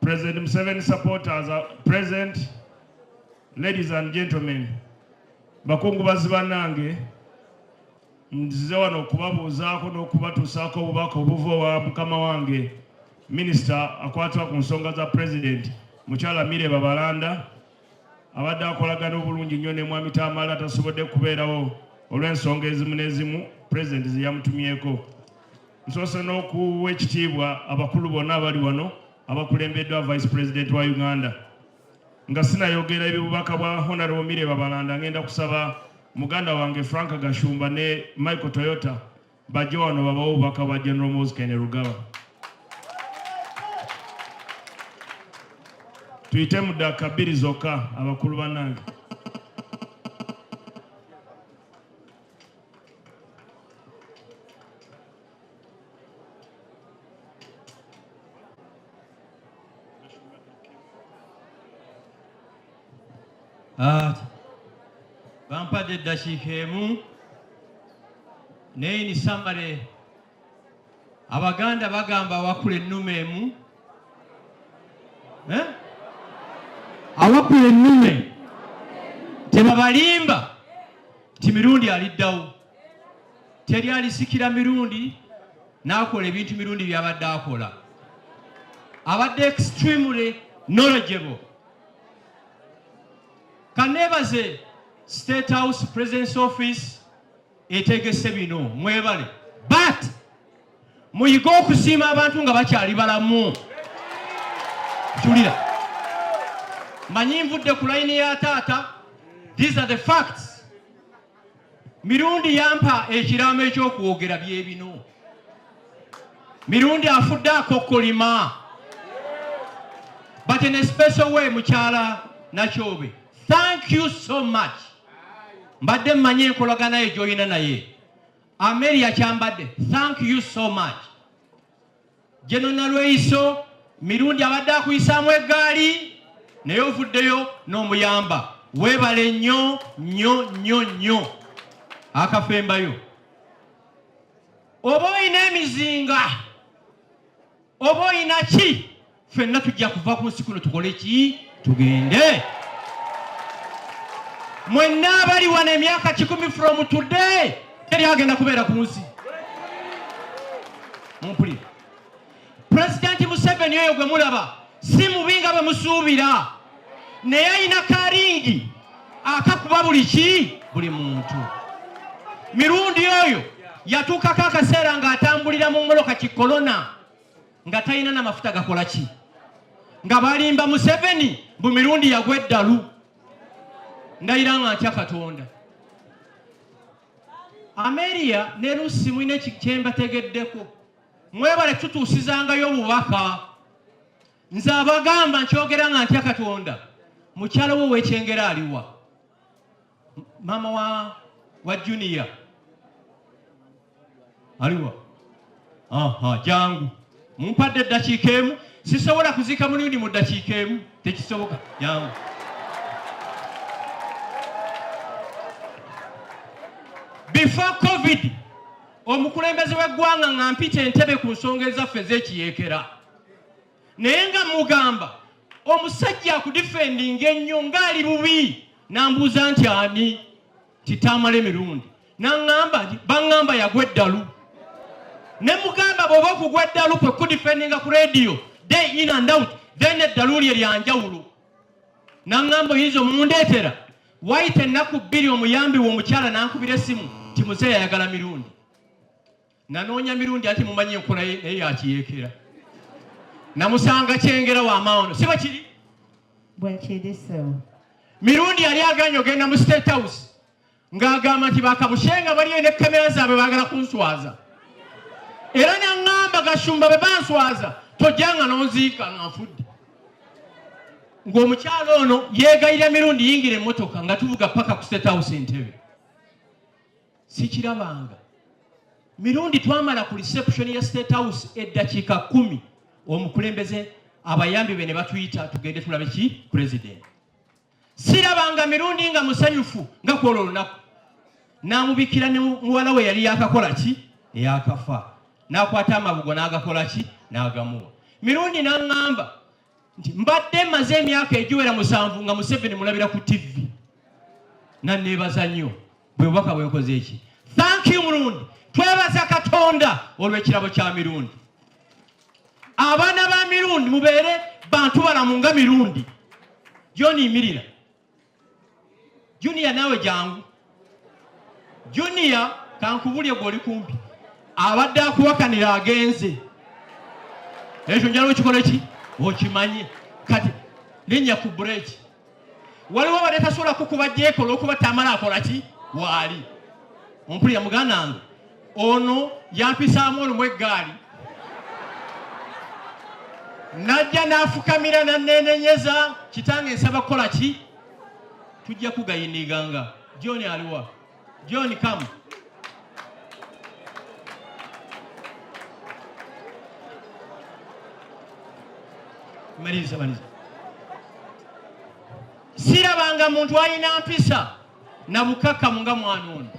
President Museveni supporters are present. Ladies and gentlemen, bakungubazi banange nzize wano okubabuuzaako n'okubatuusaako obubaka obuva owa mukama wange minisita akwatibwa ku nsonga za president mukyala Mireba Balanda abadde akolagana obulungi nnyo ne mwami Tamale atasobodde kubeerawo olw'ensonga ezimu n'ezimu pulezidenti ze yamutumyeko. Nsoose n'okuwa ekitiibwa abakulu bonna abali wano abakulembeddwa vice president wa Uganda nga sinayogera ebibubaka bwa Honorable Mireba Balanda ngenda kusaba muganda wange Frank Gashumba ne Michael Toyota Bajje wano babawo obubaka bwa General Moses Kainerugaba. Tuyite mu ddaaka bbiri zokka abakulu bannange. Ah, bampadde eddakiika emu naye ni samale abaganda bagamba awakula ennume emu eh? awakula ennume tebabalimba nti mirundi aliddawo teri alisikira mirundi n'akola ebintu mirundi byabadde akola abadde extremely knowledgeable kanebaze state house presidence office etegese bino mwebale but muyige okusiima abantu nga bakyali balamu julira manyi nvudde ku layini ya taata these are the facts Mirundi yampa ekiraamo eky'okwogera bye bino. Mirundi afudde akokkolima. But in a special way, mukyala Nakyobe, thank you so much. Mbadde mmanyi enkolagana ye gy'olina naye. Amelia Kyambadde, thank you so much. Jeno Nalweyiso Mirundi abadde akuyisaamu eggaali naye ovuddeyo n'omuyamba. Weebale nnyo nnyo nnyo nnyo akafembayo. Oba olina emizinga oba olina ki fenna tujja kuva ku nsi kuno tukole ki tugende mwenna abali wano emyaka kikumi from today teri agenda kubeera ku nsi mumpuli pulezidenti museveni oyo gwe mulaba si mubi nga bwe musuubira naye alina karingi akakuba buli ki buli muntu mirundi oyo yatuukako akaseera ng'atambulira mu moloka kikolona nga talina na mafuta gakola ki nga balimba museveni mbu mirundi yagwa eddalu ndayira nga ntya katonda ameria ne rusi mulina ekyembategeddeko mwebale tutuusizangayo obubaka nze abagamba nkyogera nga ntya katonda mukyalo wo wekyengera aliwa Mama wa wa junior aliwa? Aha, jangu mumpadde eddakiika emu. Sisobola kuziika mulundi mu ddakiika emu, tekisoboka. Jangu before covid omukulembeze w'eggwanga nga mpita entebe ku nsonga ezaffe ez'ekiyeekera naye nga mugamba omusajja akudifendinga ennyo ng'ali bubi nambuuza nti ani kitaamala emirundi naŋamba nti baŋŋamba yagwa eddalu ne mugamba bw'oba okugwa eddalu kwe kudifendinga ku rediyo day in and out then eddalu lye lyanjawulo naŋamba oyinza omundeetera wayita ennaku bbiri omuyambi w'omukyala nankubira essimu nti muzeeyi ayagala mirundi nanoonya mirundi anti mumanyi enkola ye naye yakiyeekera namusanga kyengera wamaono siba kiri bwakiriso mirundi yali aganye ogenda mu state house ng'agamba nti bakabushenga baliyo ne kamera zaabwe baagala kunswaza era naŋŋamba gashumba bwe banswaza tojjanga n'onziika nga nfudde ng'omukyalo ono yeegayira mirundi yingira emmotoka nga tuvuga paka ku state house entebe sikirabanga mirundi twamala ku reception ya state house eddakiika kumi omukulembeze abayambi be ne batuyita tugende tulabe ki president sirabanga mirundi nga musanyufu nga kwolwo olunaku n'amubikira ne muwala we yali yakakola ki eyakafa n'akwata amabugo n'agakola ki n'agamuwa mirundi n'aŋŋamba nti mbadde maze emyaka egiwera musanvu nga museveni mulabira ku tv naneebaza nnyo bwe bubaka bwenkoze eki thank you mulundi twebaza katonda olw'ekirabo kya mirundi abaana ba mirundi mubeere bantu balamu nga mirundi gyoniyimirira Junior nawe jangu. Junior kankubulye gwe oli kumpi. Abadde akuwakanira agenze. Ekyo njala okikola ki? Okimanye. Kati nenya ku break. Waliwo abadde tasobola kukuba jeekola okuba tamala akola ki? Waali. Ompulira muganda wange. ono yampisaamu olumu eggaali najja n'afukamira naneenenyeza kitange nsaba kukola ki tujja kugayiniganga john aliwa john kamu maliza maliza sirabanga muntu alina mpisa na bukakamu nga mwana ono.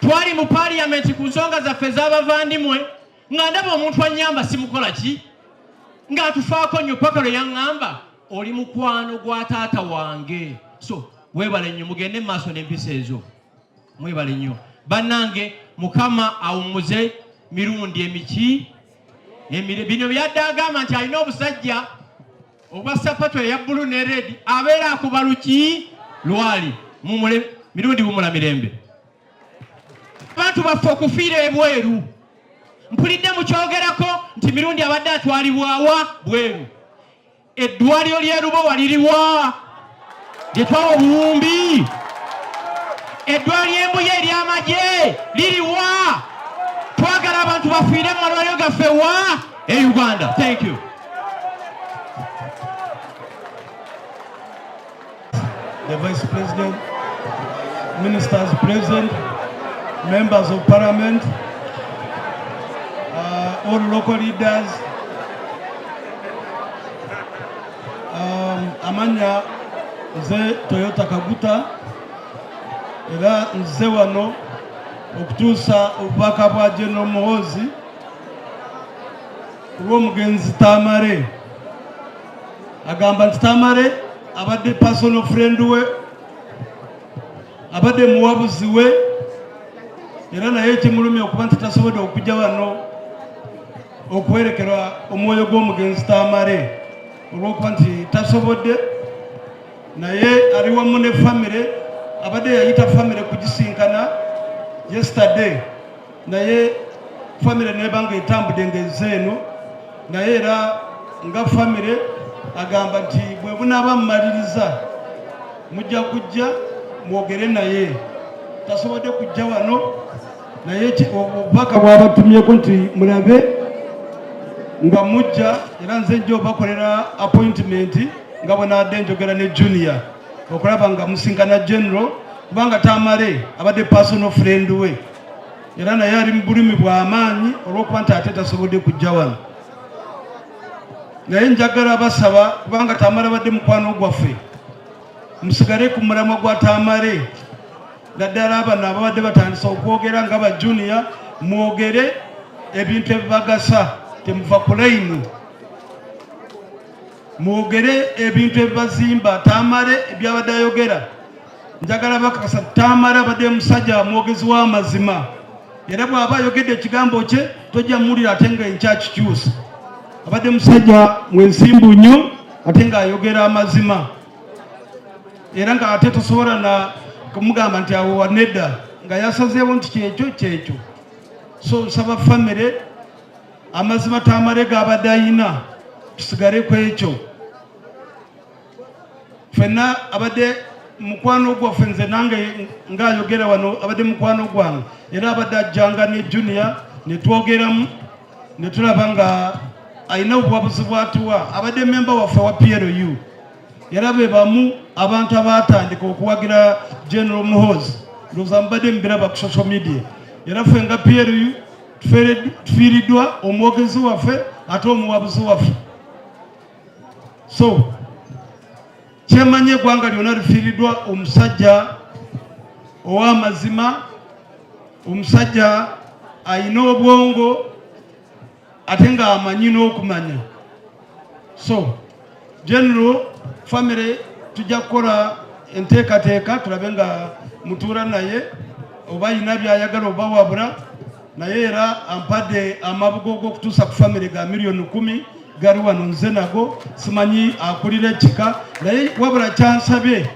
Twali mu parliament ku nsonga zaffe z'abavandimwe nga ndaba omuntu anyamba simukola ki nga atufaako nnyo paka lwe yaŋŋamba oli mukwano gwa taata wange so webale nnyo mugende mu maaso n'empisa ezo mwebale nnyo bannange mukama awummuze mirundi emiki emire bino byadde agamba nti alina obusajja Obwa sapatu eya bulu ne redi abeera akuba luki lwali mumule mirundi wumula mirembe. Abantu baffe okufiira ebweru mpulidde mukyogerako nti mirundi abadde atwalibwawa bweru. Eddwaliro ly'erubowa liriwa? gyetwawa obuwumbi eddwaliro embuya eryamagye liriwa twagala abantu bafiire mu malwaliro gaffe wa e uganda thank you the vice president ministers present members of parliament uh, all local leaders Um, amanya nze Toyota Kaguta era nze wano okutuusa obubaka bwa General Muhoozi kulw'omugenzi Tamale agamba nti Tamale abadde personal friend we abadde muwabuzi we era naye ekimulumya okuba nti tasobodde okujja wano okuwerekera omwoyo gw'omugenzi tamale olwokuba nti tasobodde naye ali wamu ne famire abadde yayita famire kugisinkana yesterday naye famire neba nga etambudde nga enze eno naye era nga famire agamba nti bwe bunaaba mumaliriza mujja kujja mwogere naye tasobodde kujja wano naye obubaka bwabatumyeko nti mulabe nga mujja era nze nja obakolera appointimenti nga bwenaadde njogera ne junior okulaba nga musinkana general kubanga tamale abadde personal friend we era naye ali mu bulumi bw'amaanyi olw'okuba nti ate tasobodde kujja wano naye njagala basaba kubanga tamale badde mukwano gwaffe musigale ku mulamwa gwa tamale naddala abano ababadde batandisa okwogera nga ba junior mwogere ebintu ebibagasa temuva ku layini mwogere ebintu ebibazimba tamale ebyabadde ayogera njagala bakakasa tamale abadde musajja mwogezi w'amazima era bw'aba ayogedde ekigambo kye tojja muwulira ate nga enkyakikyusa abadde musajja mwensimbu nnyo ate ng'ayogera amazima era nga ate tosobola na kumugamba nti awo wanedda nga yasazeewo nti kyekyo kyekyo so nsaba famire amazima tamale gabadde ayina tusigale ku ekyo fenna abadde mukwano gwaffe nze nange ngaayogera wano abadde mukwano gwange era abadde ajjanga ne junia netwogeramu netulaba nga alina obuwabuzi bwatuwa abadde memba waffe wa plu era be bamu abantu abaatandika okuwagira general muhozi ndowooza mubadde mubiraba ku social media era ffe nga plu tufiiriddwa omwogezi waffe ate omuwabuzi waffe so kyemanyi eggwanga lyona lifiiriddwa omusajja ow'amazima omusajja alina obwongo ate ng'amanyi n'okumanya so general family tujja kukola enteekateeka tulabe nga mutuula naye oba yina byayagala oba wabula naye era ampadde amabugo g'okutuusa ku famire ga miliyoni kumi gari wano nze nago simanyi akulira ekika naye wabula kyansabye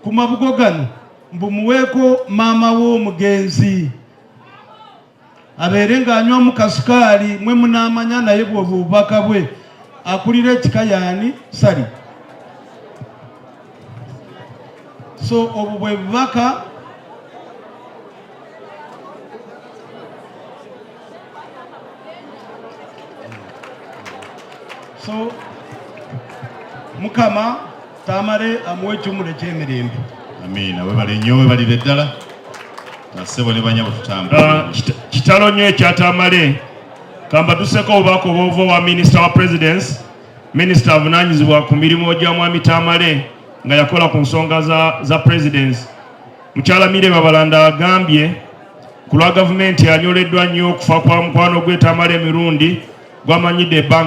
ku mabugo gano mbumuweeko maama w'omugenzi abeere ng'anywa mu kasikaali mwe munaamanya naye bwova obubaka bwe akulira ekika yaani sali so obwo bwe bubaka so mukama Tamale amuwe ekimuli eky'emirembe. Amiina. Webale nnyo webalire ddala basebo ne banyabo tutambula. Ah, kitalo nnyo ekya Tamale. Kambaduseko obubaka obwova owa minisita wa presidensi minisita avunanyizibwa ku mirimu gya mwami Tamale nga yakola ku nsonga za, za presidensi mukyala Mire Babalanda agambye ku lwa gavumenti anyoleddwa nnyo okufa kwa mukwano gwe Tamale Mirundi gwamanyidde ebbanga